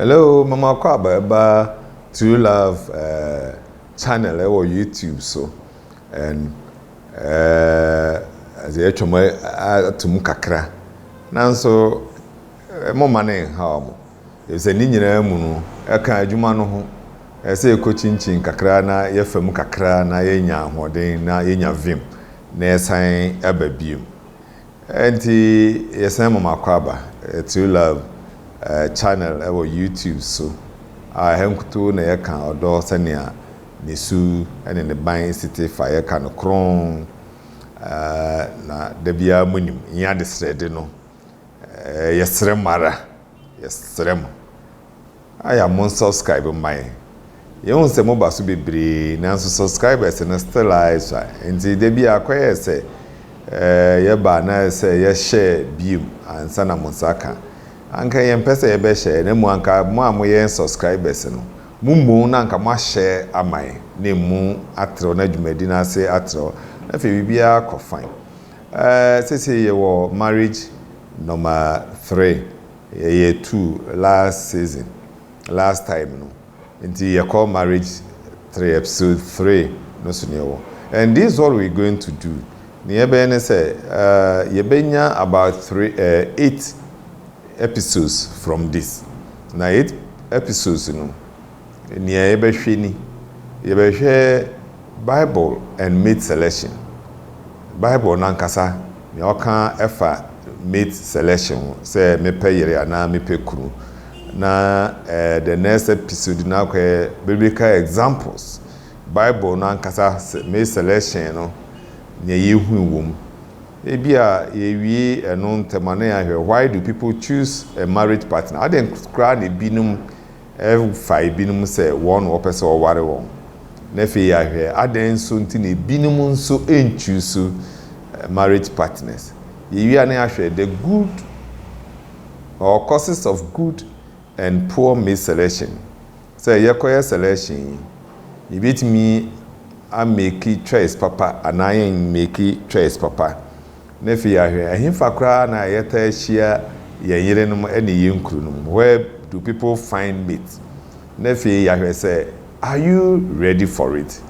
Hello, mama kɔ aba ɛba True Love uh, channel ɛwɔ eh, YouTube so and ɛdze ɛtwa mu ato mu kakra nanso mo ma ne nhaw mo Efisɛ ne nyinaa mu no, ɛka adwuma no ho. Ɛsɛ sɛ yekokyinkyin kakra na yɛfa mu kakra na yenya ahoɔden na yenya vim na yɛsan ba bio. Enti yɛsan ma mo akwaaba, True Love Channel wɔ YouTube so, a ɛha nkutoo na yɛka ɔdɔ sɛnea ne su ne ne ban si te fa. Yɛka no kronn, na da biara munim, ɛnyɛ adesrɛde no. Ɛɛ yɛsrɛ mo ara, yɛsrɛ mo ayɛ a mo subscribe mma yɛn. Yɛhu sɛ moba so bebree nanso subscribers no still ara ɛsua. Nti da bi akɔyɛ sɛ ɛɛ yɛba na sɛ yɛhyɛ biom ansa na mo nsa aka. Anka yɛmpɛ sɛ yɛbɛhyɛ na mmom anka mo a moyɛ yɛn subscribers no mo mmom na anka moahyɛ ama yɛn na emu atrɛw na dwumadi no ase atrɛw na afei biribiara akɔ fine. Ɛɛ sesei yɛwɔ marriage number three, yɛyɛ two last season, last time no, nti yɛkɔ marriage three, episode three no so na yɛwɔ. And this what we going to do, nea yɛbɛyɛ ne sɛ ɛɛ yɛbɛnya about three ɛɛ eight episodes from this, na eight episodes no, Nea yɛbɛhwɛ ni, Yɛbɛhwɛ Bible and Mate Selection, Bible no ankasa, nea ɔka fa mate selection ho, sɛ mepɛ yere anaa mepɛ kunu, na eh, the next episode no akɔyɛ biblical examples, Bible no ankasa mate selection no, nea yɛhui wɔ mu. Ebi a yɛwie ɛno ntɛm a na yɛahwɛ Why do people choose a marriage partner? Adɛn koraa na ebinom Ɛfa ebinom sɛ wɔn na wɔpɛ sɛ wɔware wɔn. Na afei yɛahwɛ adɛn nso nti na ebinom nso nchuusu marriage partners. Yɛwie a na yɛahwɛ the good or causes of good and poor mate selection. Sɛ yɛkɔyɛ selection yi, yɛbɛtumi ameki choice papa anaa yɛmmeki choice papa. Na afei ahwɛ, ɛhefa koraa na yɛtaa hyia yɛn yerenom ne yɛn kununom? Where do people find mate? Na afei yɛahwɛ sɛ, Are you ready for it?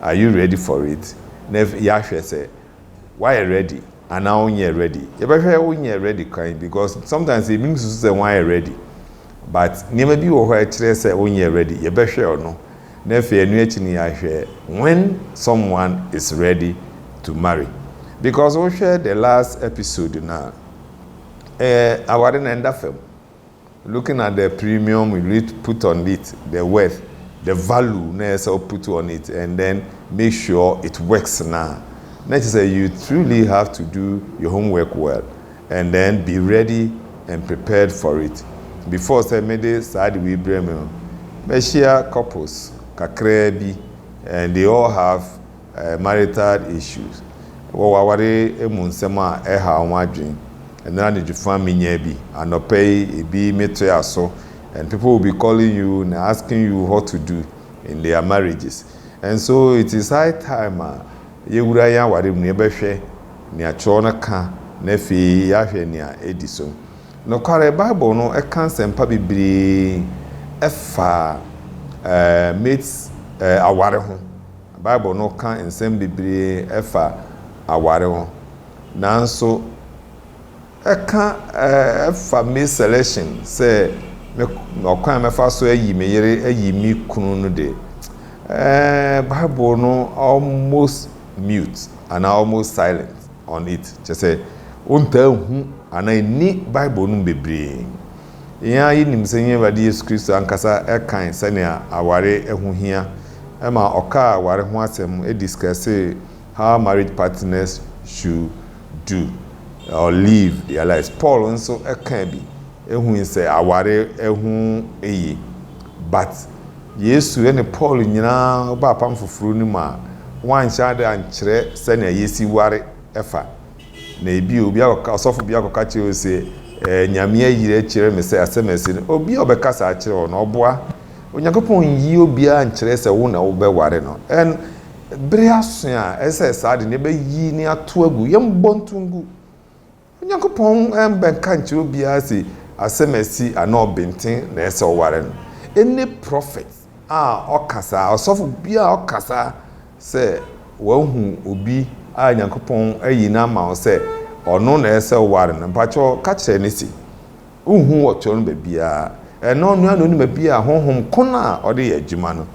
Are you ready for it? Na yɛahwɛ sɛ, Woayɛ ready anaa wonyɛɛ ready? Yɛbɛhwɛ wonyɛɛ ready kwan because sometimes ebinom susu sɛ wɔayɛ ready but nneɛma bi wɔ hɔ a ɛkyerɛ sɛ wonyɛɛ ready. Yɛbɛhwɛ ɔno. na afei ɛno akyi no yɛahwɛ when someone is ready to marry because wohwɛ the last episode no a eh, aware na ɛnda fam looking at the premium you put on it the worth the value na ɛsɛ wo put on it and then make sure it works na na kyerɛ sɛ you truly have to do your homework well And then be ready and prepared for it, before sɛ mede saa ade wei brɛ me no, mɛhyia couples kakraa bi and they all have marital issues, wɔwɔ aware mu nsɛm a ɛhaw wɔn adwene. Ɛnnora anadwo fã menyaa bi, anɔpa yi ebi metoa so and people will be calling you and asking you what to do in their marriages and so it is high time a, Yɛwura yɛn aware mu no, yɛbɛhwɛ nea Kyerɛw no ka na afei yɛahwɛ nea edi so. Nokwarem, Bible no ka nsɛmpa bebree fa mates aware ho. Bible no ka nsɛm bebree fa aware ho. Nanso, Ɛka fa me selection sɛ me ɔkwan a mɛfa so ayi me yere ayi me kunu no de, eh, Bible no almost mute anaa almost silent on it. Kyerɛ sɛ, wontaa nhu anaa enni Bible no mu bebree. Yɛn ara yenim sɛ yɛn Awurade Yesu Kristo ankasa kae sɛnea aware ho hia ma ɔkaa aware ho asɛm discussee How Marriage Partners Should Do, or Live, Their Lives. Paul nso kaa bi hui sɛ aware ho ye. But, Yesu ne Paul nyinaa baa apam foforo no mu a, wɔanhyɛ ade ankyerɛ sɛnea yesi ware fa. Na ebia obi akɔka, ɔsɔfo bi akɔka kyerɛ wo se, Eh, Nyame ayiri akyerɛ me sɛ asɛm a ɛse no. Obi a ɔbɛka saa akyerɛ wo no, ɔboa? Onyankopɔn nyi obiara nkyerɛ sɛ wo na wobɛware no. And, Bere aso a ɛsɛ sɛ saa ade no yɛbɛyi na yɛatow agu. Yɛmmɔ ntow ngu. Onyankopɔn mmɛka nkyerɛ obiara se asɛm a asi anaa ɔbenten na ɛsɛ sɛ ɔware no. Any prophet a ɔka saa, ɔsɔfo biara a ɔka saa sɛ wahu obi a Nyankopɔn ayi no ama wo sɛ ɔno na ɛsɛ sɛ ɔware no, mpakyɛw ka kyerɛ no se, Wonhu wɔ turo no baabiara. Ɛno onua na onim baabi a honhom ko no a ɔde yɛ adwuma no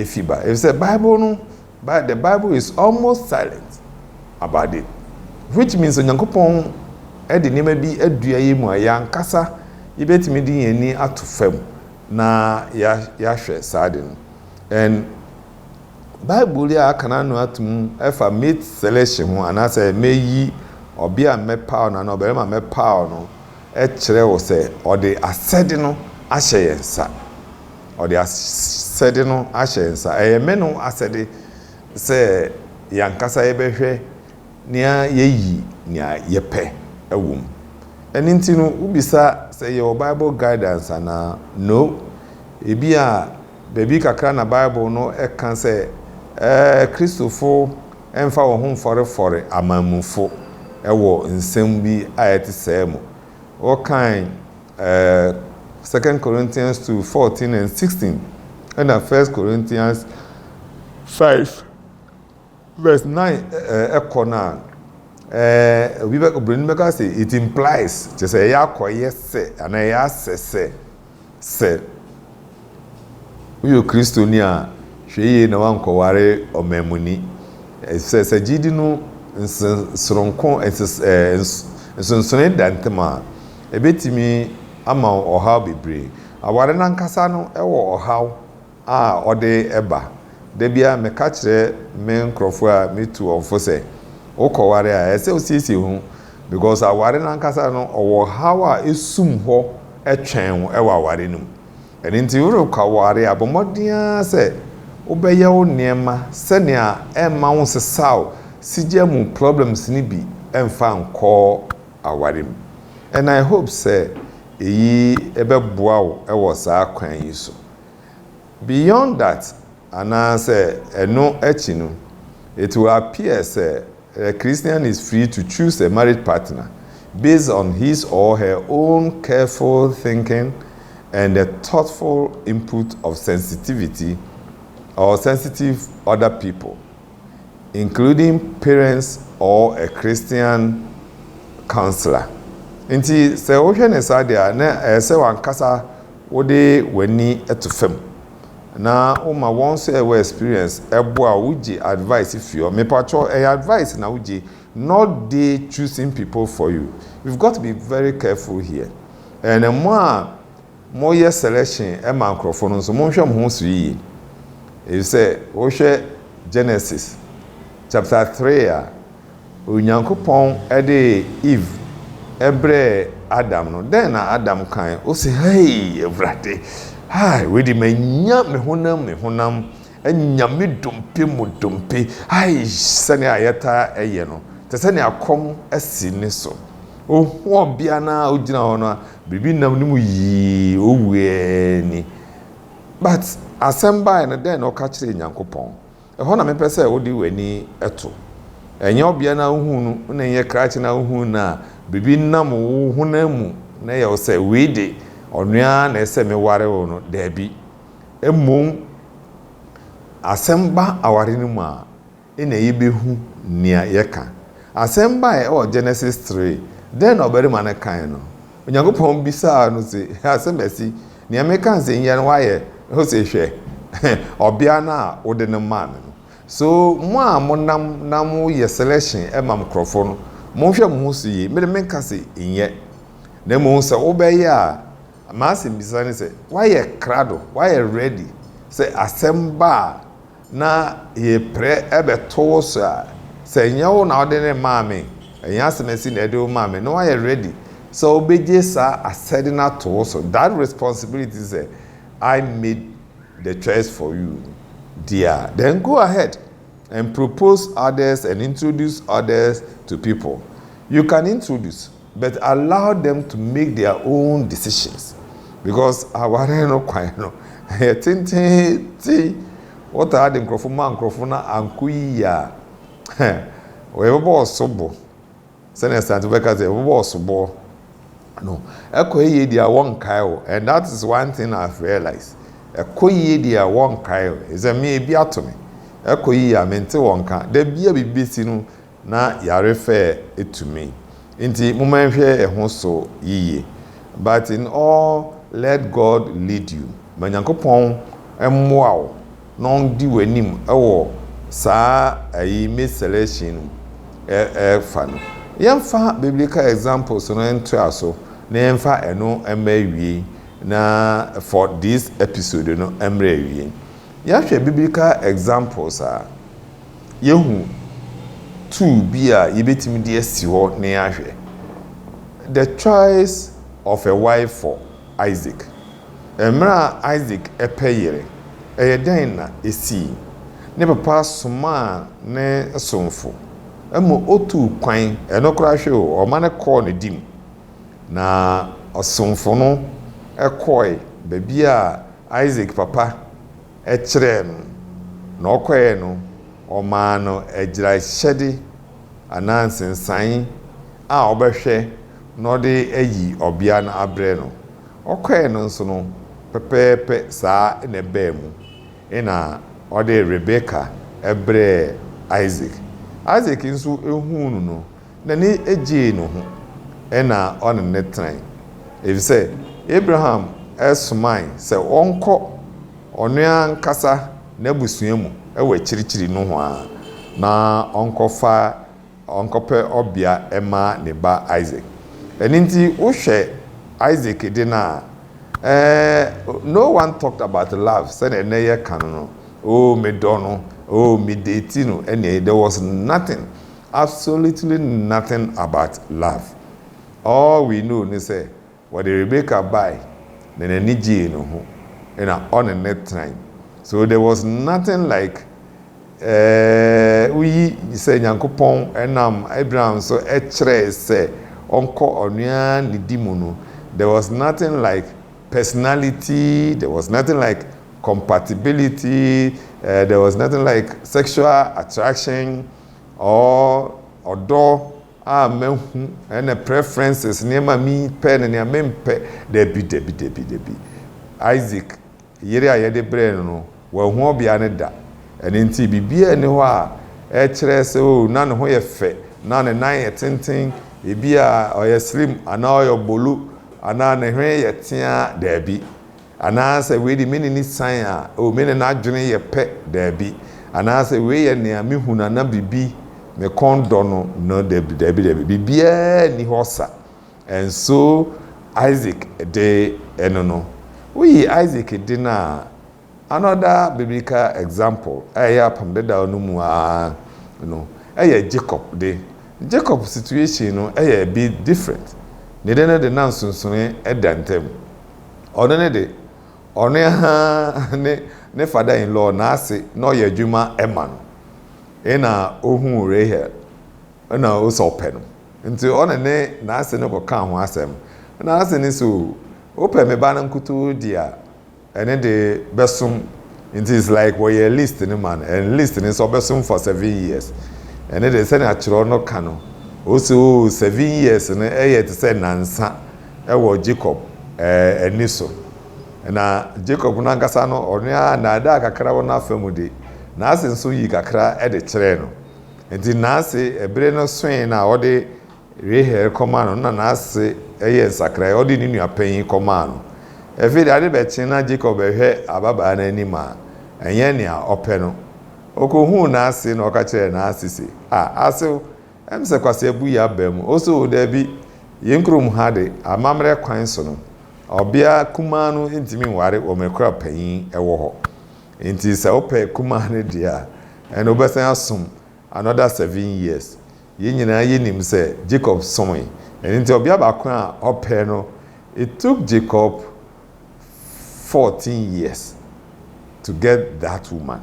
fi ba. Efisɛ Bible no, the Bible is almost silent about it. Which means Onyankopɔn de nneɛma bi adua yɛn mu a yɛn ankasa yɛbɛtumi de yɛn ani ato fam na yɛahwɛ saa ade no. And Bible yi a aka no ano atom ɛfa mate selection ho anaasɛ mɛyi ɔbea a mɛpaw no anaa ɔbarima a mɛpaw no kyerɛ wo sɛ ɔde asɛde no ahyɛ yɛn nsa. Ɔde asɛde no ahyɛ yɛn nsa. Ɛyɛ me ne wo asɛde sɛ yɛn ankasa yɛbɛhwɛ na yɛayi nea yɛpɛ wɔ mu. Ɛno nti no, wobisa sɛ yɛwɔ Bible Guidance anaa? No. Ebia baabi kakra na Bible no ka sɛ Kristofo Ɛmfa wo ho mfɔrefɔre amammuifo wɔ nsɛm bi a ɛte sɛɛ mu. Wɔkan Second Corinthians two fourteen and sixteen ɛna First Corinthians five verse nine kɔ no a, obi bɛ obroni bɛka sɛ it implies, kyerɛ sɛ ɛyɛ akɔyɛ sɛ anaa ɛyɛ asɛ sɛ. Sɛ woyɛ Kristoni a, hwɛ yiye na woankɔware ɔmammuni, efisɛ sɛ gyidi no nsesoronko nsonsonoe da ntam a, ebetumi ama wo ɔhaw bebree. Aware no ankasa no wɔ ɔhaw a ɔde ba. Da biara meka kyerɛ me nkorɔfoɔ a metu wɔn fo sɛ, wokɔware a, ɛsɛ sɛ wosiesie wo ho because aware no ankasa no, ɔwɔ ɔhaw a ɛsum hɔ twɛn wo wɔ aware no mu. Ɛno nti worekɔware a, bɔ mmɔden ara sɛ wobɛyɛ wo nneɛma sɛnea ɛremma wonsesaw sigya mu problems no bi mfa nkɔ aware mu. And I hope sɛ eyi bɛboa wo wɔ saa kwan yi so. Beyond that, anaasɛ ɛno akyi no, it will appear sɛ a Christian is free to choose a marriage partner based on his or her own careful thinking and the thoughtful input of sensitivity or sensitive other people, including parents or a Christian counsellor. Nti, sɛ wohwɛ no saa deɛ a, na ɛyɛ sɛ w'ankasa Wode w'ani to fam na woma wɔn sɛ wɔ experience ɛboa wo wogye advice fi hɔ mepakyɛw ɛyɛ advice na wogye not they choosing people for you you've got to be very careful here and mo a moyɛ selection ma nkorɔfoɔ no nso monhwɛ mo ho so yiye efisɛ wohwɛ Genesis chapter three a Onyankopɔn de Eve brɛɛ Adam no, dɛn na Adam kae? Ose, Hei, Awurade, ai, wei de manya me honam mu honam, anya me dompe mu dompe, ai, sɛnea yɛtaa yɛ no, te sɛ nea kɔm asi ne so. Ohu ɔbea no a ogyina hɔ no a biribi nam ne mu yii, owuee ni. But asɛm bae no, dɛn na ɔka kyerɛɛ Nyankopɔn? Ɛhɔ na mepɛ sɛ wode w'ani to. Ɛnyɛ ɔbea no a wuhu no na ɛnyɛ krakye no a wuhu no a biribi nam wo honam mu na ɛyɛ wo sɛ wei de, ɔno ara na ɛsɛ sɛ meware wo no. Dabi. Mmom asɛm ba aware no mu a, ɛnna yebehu nea yɛka. Asɛm bae wɔ Genesis three. Dɛn na ɔbarima no kae no? Onyankopɔn bisaa no se, Asɛm asi? Nea mereka nsɛnhia no wayɛ, ose hwɛ, ɔbea no a wode no maa me no. So mo a monam na moyɛ selection ma me nkurɔfo no, monhwɛ mo ho so yie. Me de menka se nyɛ. Na mmom sɛ wobɛyɛ a, m'asɛmbisa ne sɛ, wayɛ krado, wayɛ ready sɛ asɛm ba a na yɛpere bɛto wo so a, sɛ ɛnyɛ wo na wode no maa me, ɛnyɛ asɛmasi na ɛde wo maa me, na woayɛ ready sɛ wobɛgye saa asɛde no ato wo so, that responsibility sɛ I made the choice for you deɛ a, then go ahead and propose others and introduce others to people. You can introduce. But allow them to make their own decisions because aware no kwan no ɛyɛ tenteenten wɔtaa de nkurɔfo ma nkurɔfo na ankɔ yiye a yɛbɛbɔ ɔsobo sɛnea asante bɛka sɛ yɛbɛbɔ ɔsobo no ɛkɔ yiye deɛ wɔnkae o and that is one thing I have realized ɛkɔ yiye deɛ wɔnkae o ɛsɛ me ebi ato me ɛkɔ yiye a mente wɔn ka da bi a biribi bɛsi no na yare fɛɛ etumi nti mo ma nhwɛ ɛho so yiye but in all let God lead you ma Nyankopɔn mmoa wo na ɔndi w'anim ɛwɔ saa ɛyi mate selection no ɛfa no yɛnfa biblical examples no ntoa so na yɛnfa ɛno ɛma awiei na for this episode no ɛmrɛ awiei yɛhwɛ biblical examples a. Yɛahu tool bi a yɛbɛtumi de asi hɔ na yɛahwɛ. The choice of a wife for Isaac. Mmerɛ a Isaac pɛ yere, ɛyɛ dɛn na ɛsii? Ne papa somaa ne somfo ma ɔtuu kwan, ɛno koraa hwɛ o, ɔma no kɔɔ ne de mu. Na ɔsomfo no kɔɔe baabi a Isaac papa kyerɛɛ no, na ɔkɔeɛ no, wɔmaa no agyiraehyɛde anaa nsensan a ɔbɛhwɛ na ɔde ayi ɔbea no abrɛ no. Ɔkɔeɛ no nso no, pɛpɛɛpɛ saa na ɛbaa mu, ɛnna ɔde Rebeka brɛɛ Isak. Isak nso huu no no, N'ani gyee no ho na ɔne no tenae, efisɛ Abraham somae sɛ ɔnkɔ ɔno ankasa n'abusua mu wɔ akyirikyiri nohoa na ɔnkɔfa ɔnkɔpɛ ɔbea mma ne ba Isak. Ɛno nti, wohwɛ Isak de no a, no one talked about love sɛnea nnɛ yɛka no no, oh, medɔ no, oh, medeeti no, there was nothing. Absolutely nothing about love, all we know ne sɛ wɔde Rebecca bae na n'ani gyee ne ho na ɔne no tenae, so there was nothing like eh, woyi sɛ Nyankopɔn nam Abraham so kyerɛe sɛ ɔnkɔ ɔnoa nidi mu no, there was nothing like personality, there was nothing like compatibility, eh, there was nothing like sexual attraction, or ɔdɔ a mahu ɛna preferences nneɛma a mepɛ ne nea mempɛ. Dabi, dabi, dabi, dabi. Isaac yere a yɛde brɛɛ no no, wanhu ɔbea no da. Ɛno nti, biribiara nni hɔ a ɛkyerɛ sɛ, oh, na ne ho yɛ fɛ, na ne nan yɛ tenten, ebia ɔyɛ slim anaa ɔyɛ bolu, anaa ne hwene yɛ teaa. Dabi. Anaasɛ wei de, me ne no sian a, oh, me ne no adwene yɛ pɛ, dabi. Anaasɛ wei yɛ nea me hu no anaa biribi, me kɔn dɔ no, no, dabi, dabi, dabi. Biribiara nni hɔ sa. And so, Isaac de no no, woyi Isaac de no a, another biblical example a ɛyɛ Apam Dedaw no mu ara no, ɛyɛ Jacob de. Jacob situation no yɛ a bit different. Ne de no de, na nsonsonoe da ntam. Ɔno no de, ɔno ara ne ne father-in-law n'ase na ɔyɛ adwuma ma no. Nna ohuu Rahel, nna ose ɔpɛ no. Ntsi ɔne ne n'ase no kɔkaa ho asɛm. Nna n'ase no se, Oh, wopɛ me ba no nkutoo dze a, ɛne de bɛsom. Ntsi it's like wɔyɛɛ list no ma no, and list no se ɔbɛsom for seven years. Ɛne de, sɛnea kyerɛw no ka no, ose, Oh, seven years no yɛ tse sɛ nnansa, wɔ Jacob ani so. Na Jacob no ankasa no, ɔno ara nnaadaa kakra wɔ n'afa mu de, n'ase nso yii kakra de kyerɛɛ no. Enti n'ase, bere no soe no a, ɔde Rahel kɔmaa no no, na n'ase yɛɛ nsakrae, ɔde ne nua panyin kɔmaa no. Afei de, ade bɛkye na Jacob rehwɛ ababaa no anim a ɛnyɛ nea ɔpɛ no. Okohuu n'ase na ɔka kyerɛɛ n'ase se, Ah, asew, Ɛm sɛ kwaseabu yi aba mu osoo daabi, yɛn kurom ha de, amammerɛ kwan so no, ɔbea kumaa no ntumi nware wɔ mmerɛ koro a panyin wɔ hɔ. Enti sɛ wopɛ kumaa no deɛ a, ɛnna wobɛsan asom another seven years. Yɛn nyinaa yɛnim sɛ Jacob somee. Ɛno nti ɔbea baako a ɔpɛɛ no, it took Jacob fourteen years to get that woman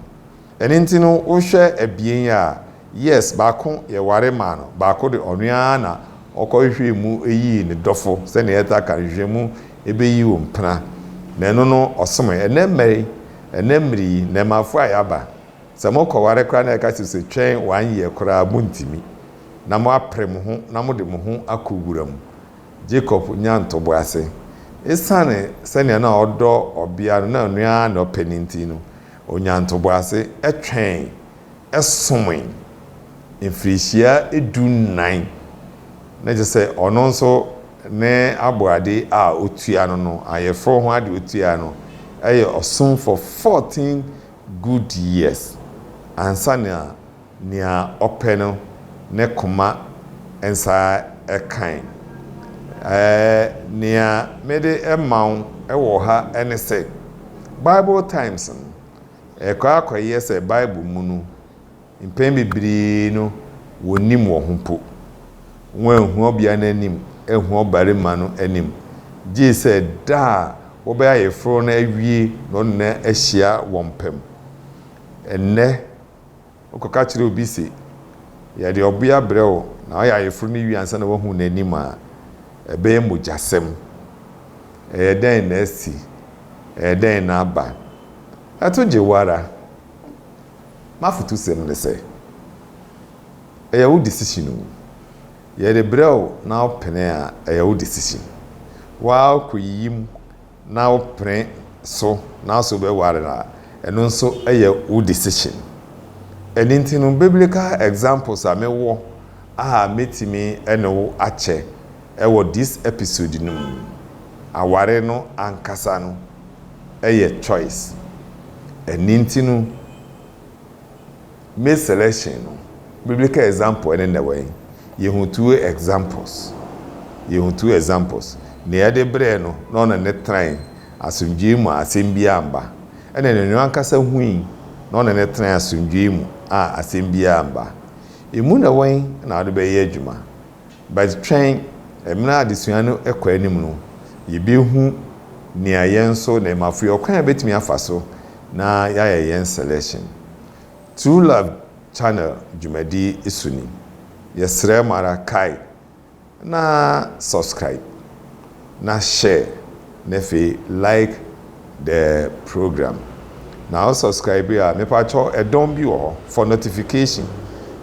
ɛno nti no wohwɛ abien yi a yes baako yɛware maa no baako de ɔno ara na ɔkɔhwehwɛɛ mu yii ne dɔfo sɛnea yɛtaa ka nhwehwɛmu ɛbɛyi wo mpena na ɛno no ɔsomoe ɛnɛ mmerɛ yi ɛnɛ mmerɛ yi nnɛɛmafoɔ a yɛaba sɛ mokɔware koraa na yɛka kyerɛ sɛ twɛn one year koraa montumi na moapere mo ho na mode mo ho akɔ wura mu Jacob nyaa ntoboase. Esiane sɛnea na ɔdɔ ɔbea no, na ɔno ara na ɔpɛ no nti no, onyaa ntoboase twɛn somee mfirihyia dunnan, na kyerɛ sɛ ɔno nso ne aboade a otua no no, ayeforo ho ade a otua no, yɛ ɔsom for fourteen good years ansa na Nea ɔpɛ no ne koma nsa kan. Ɛɛ, nea mede rema wo wɔ ha ne sɛ, Bible Times no, ɛkɔ ara kɔyɛ sɛ Bible mu no, mpɛn bebree no, wɔnnim wɔn ho mpo. Wɔanhu ɔbea no anim anhu ɔbarima no anim, gye sɛ da a wɔbɛyɛ ayeforo no awie na wɔn nyinaa ahyia wɔn pɛ mu. Ɛnnɛ, Wokɔka kyerɛ obi se, Yɛde ɔbea brɛ wo, na ɔyɛ ayeforo no wie ansa na woahu n'anim a, ɛbɛyɛ mogyasɛm. Ɛyɛ dɛn na asi? Ɛyɛ dɛn na aba? Ɛto gye wo ara. M'afotusɛm ne sɛ, Ɛyɛ wo decision o. Yɛde brɛ wo na wopene a, ɛyɛ wo decision. Woara wokɔyiyi mu. na wo pene so na so bɛ ware no a ɛno nso yɛ wo decision ɛno nti no biblical examples a me wɔ a me tumi ne wo akyɛ ɛwɔ this episode no mu aware no ankasa no ɛyɛ choice ɛno nti no Male selection no biblical example ɛne nɛ wɛn? Yɛhu two examples. Yɛhu two examples. Nea ɛde brɛɛ no na ɔne no tenae asomdwoe mu a asɛm biara amma, ɛne nea ɔno ankasa hui na ɔne no tenae asomdwoe mu a asɛm biara amma. Emu nɛ wɛn na wode bɛyɛ adwuma? But twɛn, mmerɛ a adesua no kɔ anim no, yɛbɛhu nea yɛn nso na ɛma firi, ɔkwan a yɛbɛtumi afa so na yɛayɛ yɛn selection. True Love Channel dwumadi so ni. Yɛsrɛ mo ara, kae na subscribe Na share na afei like the program na wo subscribe a mepakyɛ ɛdɔn bi wɔ hɔ for notification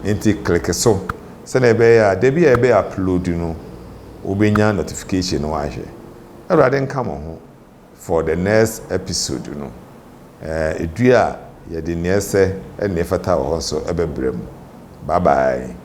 nti click so sɛnea ɛbɛyɛ a dabi a yɛbɛ upload no wobɛnya notification na wahwɛ. Awurade nka mo ho for the next episode no. Ɛɛ dua a yɛde nea ɛsɛ ne nea ɛfata wɔ hɔ nso bɛbrɛ mu. Bye bye.